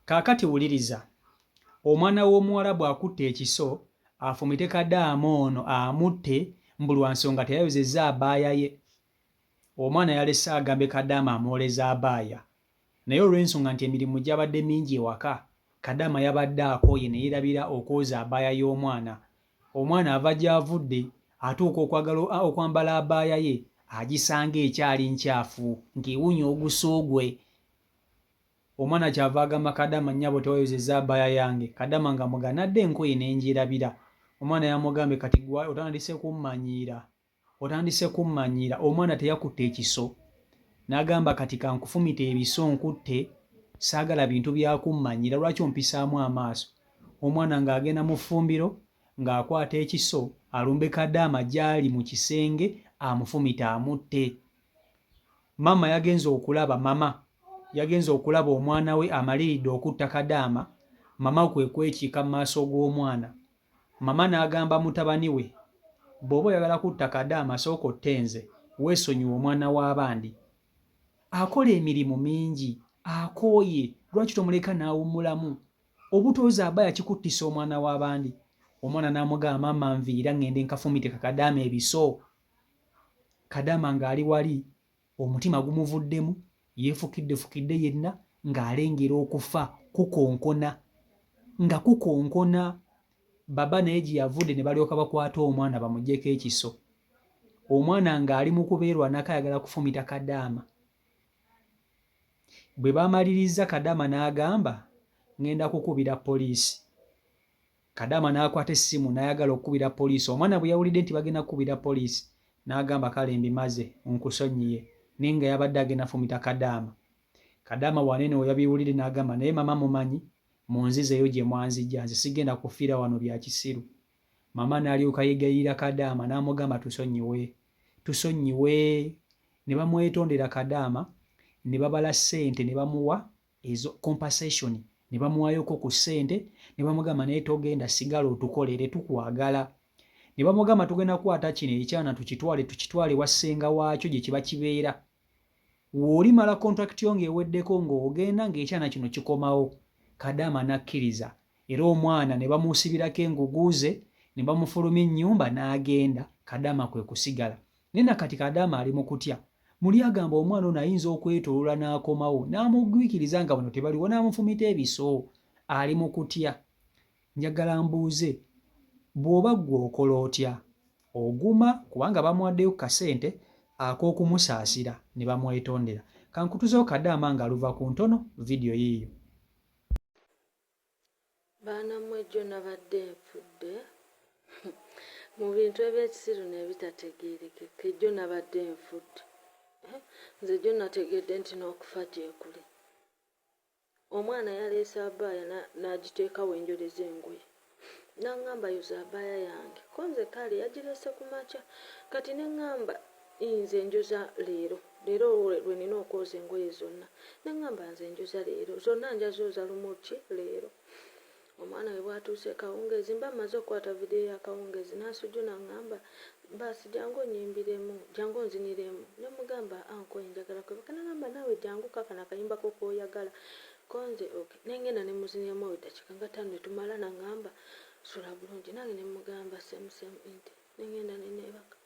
Kaakati wuliriza, omwana w'omuwala bw'akutte ekiso, afumite kadaama ono amutte, mbu lwa nsonga teyayozezza abaaya ye. Omwana yalese agambe kadaama amwoleze abaaya, naye olw'ensonga nti emirimu gyabadde mingi ewaka, kadaama yabadde akooye ne yeerabira okwoza abaaya y'omwana. Omwana ava gy'avudde, atuuka okwagala okwambala abaaya ye, agisanga ekyali ncaafu, ng'ewunya oguso gwe. Omwana kyava agamba kadama nyabo tewayozeza abaya yange kadama nga muganadde enkoye nenjirabira omwana yamugambye kati gwe otandise kummanyiira otandise kummanyiira omwana teyakutte ekiso nagamba kati kankufumite ebiso nkutte saagala bintu byakummanyiira lwaki ompisaamu amaaso omwana ng'agenda mu ffumbiro ng'akwata ekiso alumbe kadaama gyali mu kisenge amufumite amutte Mama yagenze okulaba mama yagenze okulaba omwana we amaliridde okutta Kadaama, mama kwe kwekiika mu maaso g'omwana. Mama n'agamba mutabani we, Bw'oba oyagala kutta Kadaama sooka otte nze, weesonyiwe omwana w'abandi. Akola emirimu mingi, akooye, lwaki tomuleka n'awummulamu? Obutoozi aba yakikuttisa omwana w'abandi. Omwana n'amugamba, Mama nviira ng'ende nkafumite Kadaama ebiso kadama ng'ali wali omutima gumuvuddemu yeefukiddefukidde yenna ng'alengera okufa kukonkona nga kukonkona baba naye gye yavudde ne balyoka bakwata omwana bamugyeko ekiso omwana ng'ali mu kubeerwanako ayagala kufumita kadaama bwe baamalirizza kadaama n'agamba ng'enda kukubira poliisi Kadaama n'akwata essimu n'ayagala okukubira poliisi. Omwana bwe yawulidde nti bagenda kukubira poliisi n'agamba kale mbimaze nkusonyiye naye nga yabadde agenda fumita Kadaama. Kadaama Wanene we yabiwulidde n'agamba naye mama mumanyi munzizeeyo gye mwanzija nze sigenda kufiira wano bya kisiru. Mama n'alyoka yegayirira Kadaama n'amugamba tusonyiwe tusonyiwe ne bamwetondera Kadaama ne babala ssente ne bamuwa ezo compensation ne bamuwayoko ku ssente ne bamugamba naye togenda sigala otukolere tukwagala ne bamugamba tugenda kukwata kino ekyana tukitwale tukitwale wassenga waakyo gye kiba kibeera woolimala contract yo ng'eweddeko ng'ogenda ng'ekyana kino kikomawo kadaama n'akkiriza era omwana ne bamuusibirako enguguuze ne bamufuluma ennyumba n'agenda kadaama kwe kusigala Naye na kati Kadaama ali mu kutya. Muli agamba omwana ono ayinza okwetoolola n'akomawo n'amugwikiriza nga bano tebaliwo n'amufumita ebiso. Ali mu kutya. Njagala mbuuze, bw'oba ggwe okola otya? Oguma kubanga bamuwaddeyo ku kasente ak'okumusaasira ne bamwetondera. Ka nkutuzeewo Kadaama ng'aluva ku ntono, vidiyo yiiyo. Baana mwe jjo nabadde nfudde mu bintu ebyekisiru nebitategeerekeka ejjo nabadde nfudde eh, nze jjo nategedde nti n'okufa gyekuli omwana yaleese abaaya n'agiteeka na wenjoleza engoye nangamba yoza abaaya yange ko nze kaale yagireese ku makya kati ne ngamba Ii nze njoza leero leero lwenina okwoza engoye zonna nengamba nze njoza leero zonna njazooza lumu ki leero omwana we bwatuuse kawungeezi mba mmaze okukwata vidiyo ya kawungeezi n'asujuna ngamba baasi jangu onyimbiremu jangu onziniremu ne mugamba anko enjagala kwebaka nagamba naawe jangu kakana akayimba ko kooyagala konze ok nengenda ne muziniremu eddakiika nga tano ne tumala nangamba sula bulungi nange ne mugamba semusemu inti nengenda neneebaka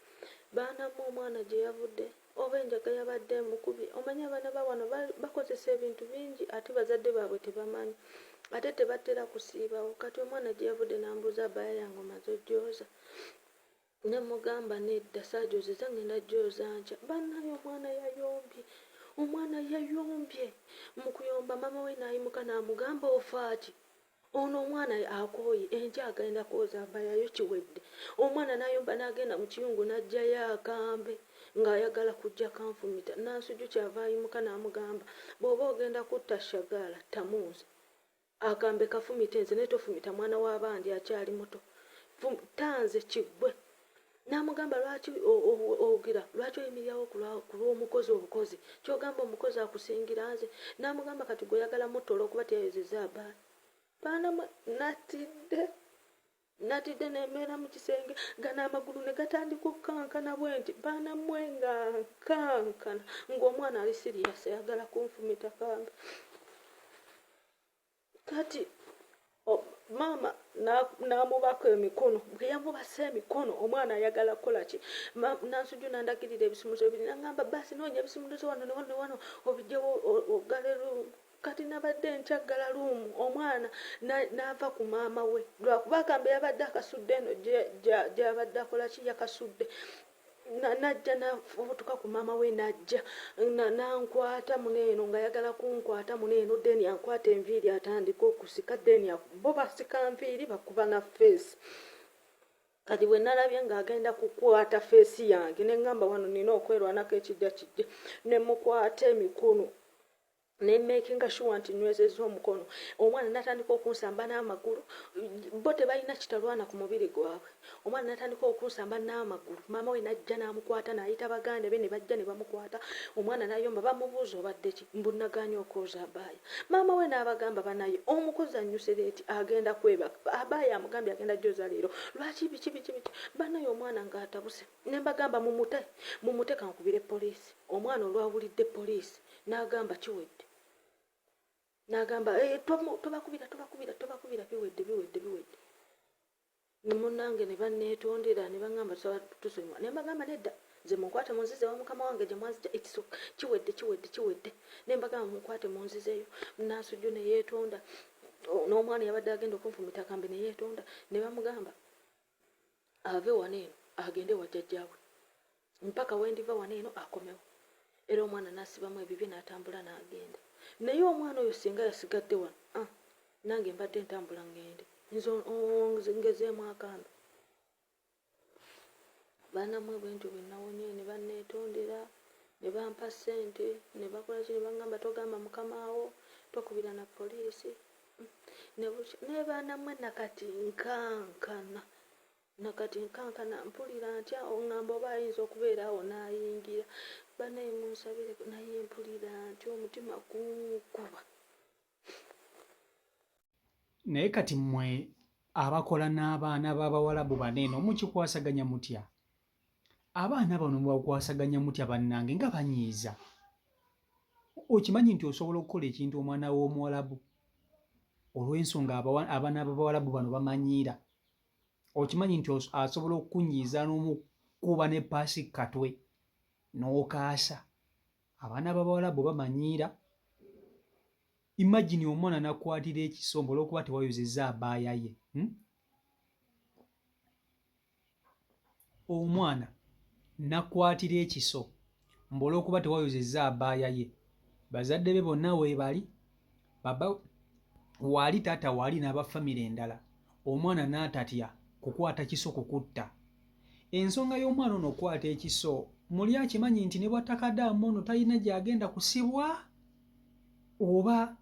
baana mu omwana gye yavudde oba enjaga yabadde emukubye omanyi abaana ba wano bakozesa ebintu bingi ate bazadde baabwe tebamanyi ate tebatera kusiibawo kati omwana gye yavudde nambuuza abaya yange omaze ojooza ne mugamba nedda saajoozeza ngenda jooza nkya bannaye omwana yayombye omwana yayombye mu kuyomba maama we naayimuka naamugamba ofaaki Ono omwana akooye enkya agenda kwoza mbayayo kiwedde. Omwana nayomba nagenda mu kiyungu najjayo akambe ng'ayagala kujja kanfumita. Nansuju kyava ayimuka namugamba bw'oba ogenda kutta Shagaala ttamu nze. Akambe kafumite nze naye tofumita mwana wa bandi akyali muto. Tta nze kiggwe. n'amugamba lwaki owugira lwaki oyimirirawo ku lw'omukozi obukozi kyogamba omukozi akusingira nze n'amugamba kati gwe oyagala mutta olwokuba teyayozeza abaana baana natidde natidde nemeera mu kisenge gana amagulu ne gatandika okukankana bwe nti baana mwe nga nkankana ng'omwana ali siriyasi ayagala kunfumita kambe kati maama n'amubako emikono bwe yamubasa emikono omwana ayagala kukola ki nansuju nandagirira ebisumuluzo ebiri nangamba baasi noonya ebisumuluzo wano newano newano obijewo ogale luumu kati nabadde nkyaggala luumu omwana naava ku maama we lwakuba agambe yabadde akasudde eno gyabadde akola ki yakasudde najja nafubutuka ku maama we najja nankwata muneeno nga yagala kunkwata muneeno deni ankwata enviiri atandika okusika deni bo basika nviiri bakuba na feesi kati bwe nalabye ng'agenda kukwata feesi yange ne ŋŋamba wano nina okwerwanako ekijja kijja ne mukwata emikono ne makinga sure nti nywezezza omukono omwana natandika okunsamba n'amagulu bo tebalina kitalwana ku mubiri gwabwe omwana natandika okunsamba n'amagulu maama we najja n'amukwata n'ayita baganda be ne bajja ne bamukwata omwana nayomba bamubuuza obadde ki mbunaganya okwoza abaaya maama we n'abagamba banaye omukozi annyuse leeti agenda kwebaka abaaya amugambye agenda joza leero lwaki biki biki biki banaye omwana ng'atabuse Ne mbagamba, Mumute, mumute, ka nkubire poliisi. Omwana olwawulidde poliisi, n'agamba, Kiwedde. N'agamba, Ee, eh, tomu, tobakubira, tobakubira, tobakubira, biwedde, biwedde, biwedde. Ne munnange ne banneetondera, ne baŋŋamba, Tusaba tusonyiwa. Ne mbagamba, Nedda, nze munkwate munzize wa mukama wange gye mwanzija itso kiwedde kiwedde kiwedde ne mbagamba munkwate munzizeyo nasujju ne yeetonda n'omwana yabadde agenda okunfumita kambe ne yeetonda ne bamugamba ave wano eno agende wa jjajjaawe mpaka wendiva wano eno akomewo era omwana nasibamu ebibye natambula nagenda naye omwana oyo singa yasigadde wano ah, nange mbadde ntambula ngende ngezeemu akambe banamwe bwentyo bwenawonye ne banetondera ne bampa ssente ne bakolaki ne bagamba togamba mukama wo tokubira na poliisi nebukya naye baana mwe nakati nkankana nakati nkankana mpulira ntya ongamba oba ayinza okubeera awo n'ayingira banaye munsabire naye mpulira ntya omutima gunkuba naye kati mwe abakola n'abaana b'abawalabu baneeno mukikwasaganya mutya abaana bano mubakwasaganya mutya bannange nga banyiiza okimanyi nti osobola okukola ekintu omwana w'omuwalabu olw'ensonga abaana b'abawalabu bano bamanyiira okimanyi nti asobola okukunyiiza n'omukuba ne paasi katwe n'okaasa abaana b'abawalabu bamanyiira imagine omwana nakwatira ekisombo olwokuba tewayozeza abaayaye hmm? omwana nakwatira ekiso mbu olwokuba tewayozezza abaaya ye bazadde be bonna webali baba waali taata waali n'aba famire endala omwana n'atatya kukwata kiso kukutta ensonga y'omwana ono okukwata ekiso muli akimanyi nti ne bwattakadaamu ono talina gy'agenda kusibwa oba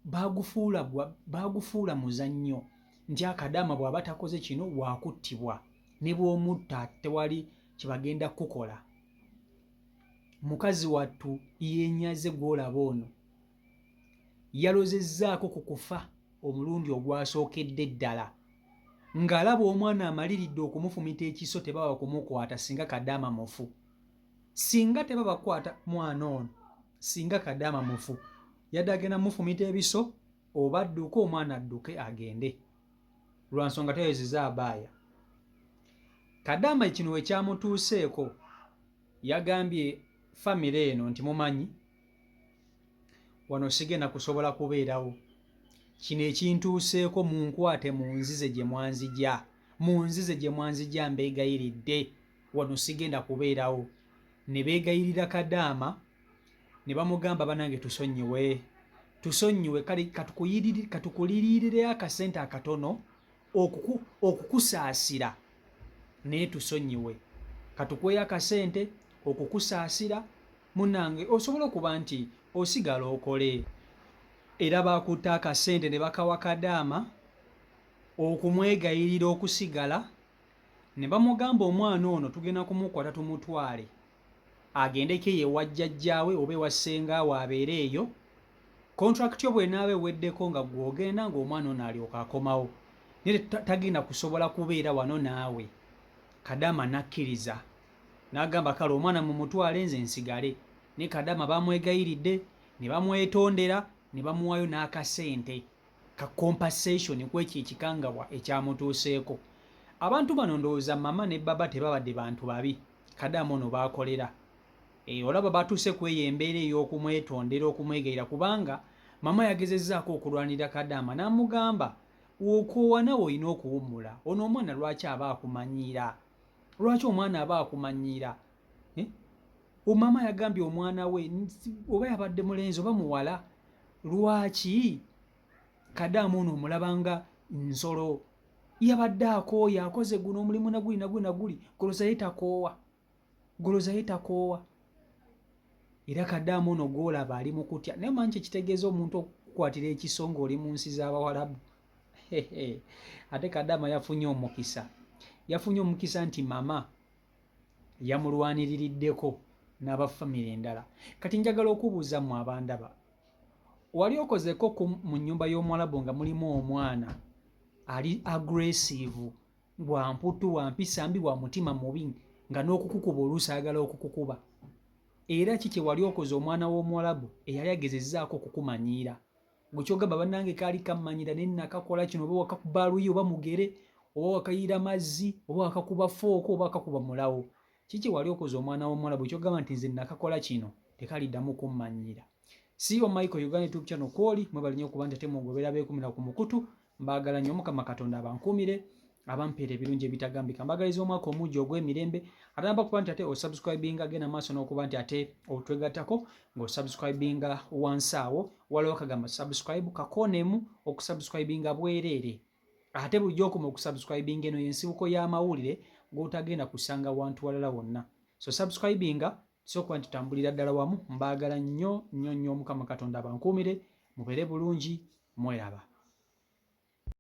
baagufuula baagufuula muzannyo nti akadaama bw'aba takoze kino waakuttibwa ne bw'omutta tewali kye bagenda kukukola mukazi wattu yenyaze gw'olaba ono yalozezzaako ku kufa omulundi ogwasookedde ddala ng'alaba omwana amaliridde okumufumita ekiso tebaba kumukwata singa kadaama mufu singa tebabakwata mwana ono singa kadaama mufu yadde agenda mufumita ebiso oba adduke omwana adduke agende lwa nsonga tayozeza abaaya kadaama kino we kyamutuuseeko yagambye famire eno nti mumanyi wano sigenda kusobola kubeerawo kino ekintuuseeko mu nkwate mu nzize gye mwanzija mu nzize gye mwanzija mbeegayiridde wano sigenda kubeerawo ne beegayirira kadaama ne bamugamba banange tusonyiwe tusonyiwe kale katukuliriireyo akasente akatono okukusaasira naye tusonyiwe katukweyo akasente okukusaasira munange osobola okuba nti osigala okole era bakutte akasente ne bakawa kadaama okumwegayirira okusigala ne bamugamba omwana ono tugenda kumukwata tumutwale agendeko eyo ewa jjajjaawe oba ewa ssenga we abeere eyo kontrakiti yo bwenaaba eweddeko nga gwogenda ng'omwana ono alyoka akomawo naye tagenda kusobola kubeera wano naawe kadama nakkiriza n'agamba kale omwana mumutwale nze nsigale ne kadama bamwegayiridde ne bamwetondera ne bamuwaayo n'akasente ka compensation kwekyo ekikangabwa ekyamutuuseeko abantu bano ndowooza mama ne baba tebabadde bantu babi kadamu ono baakolera e, olaba batuuse ku eyo embeera ey'okumwetondera okumwegayira kubanga mama yagezezzaako okulwanira kadaama n'amugamba okoowa nawe olina okuwummula ono omwana lwaki aba akumanyiira lwaki omwana aba akumanyiira eh? omama yagambye omwana we oba yabadde mulenzi oba muwala lwaki kadaamu ono omulabanga nsolo yabadde akooya akoze guno omulimu naguli naguli naguli golozaye takoowa golozaye takoowa era kadaamu ono gwolaba ali mukutya naye manyi kyekitegeeza omuntu okukwatira ekiso ngaoli mu nsi z'abawalabu ate kadama yafunye omukisa yafunye omukisa nti mama yamulwaniririddeko n'aba famire endala kati njagala okubuuza mu abandaba wali okozeko ku mu nnyumba y'omuwalabu nga mulimu omwana ali agressive wa mputtu wa mpisa mbi wa mutima mubi nga n'okukukuba oluusi ayagala okukukuba era ki kye wali okoze omwana w'omuwalabu eyali agezezaako okukumanyiira gwe kyogamba banange kaali kammanyira naye nakakola kino oba wakakuba luyi oba mugere oba wakayiira mazzi oba wakakuba fooko oba wakakuba mulawo kiki wali okoze omwana w'omuwala bwe kyogamba nti nze nakakola kino tekaliddamu kummanyiira siyo michael uganda tube channel kwoli mwebalinyo okuba nti ate mugobera beekumira ku mukutu mbaagala nnyo mukama katonda abankuumire abampeera ebirungi ebitagambika mbagaliza omwaka omugi ogw'emirembe ate namba kuba nti ate osubscribinga genda maaso n'okuba nti ate otwegattako ng'osubscribinga wansi awo waliwo kagamba subscribe kakoonemu okusubscribinga bwereere ate bulijjo okuma okusubscribinga eno yensibuko y'amawulire g'otagenda kusanga wantu walala wonna so subscribinga so kuba nti tambulira ddala wamu mbaagala nnyo nnyo nnyo omukama katonda abankuumire mubeere bulungi mweraba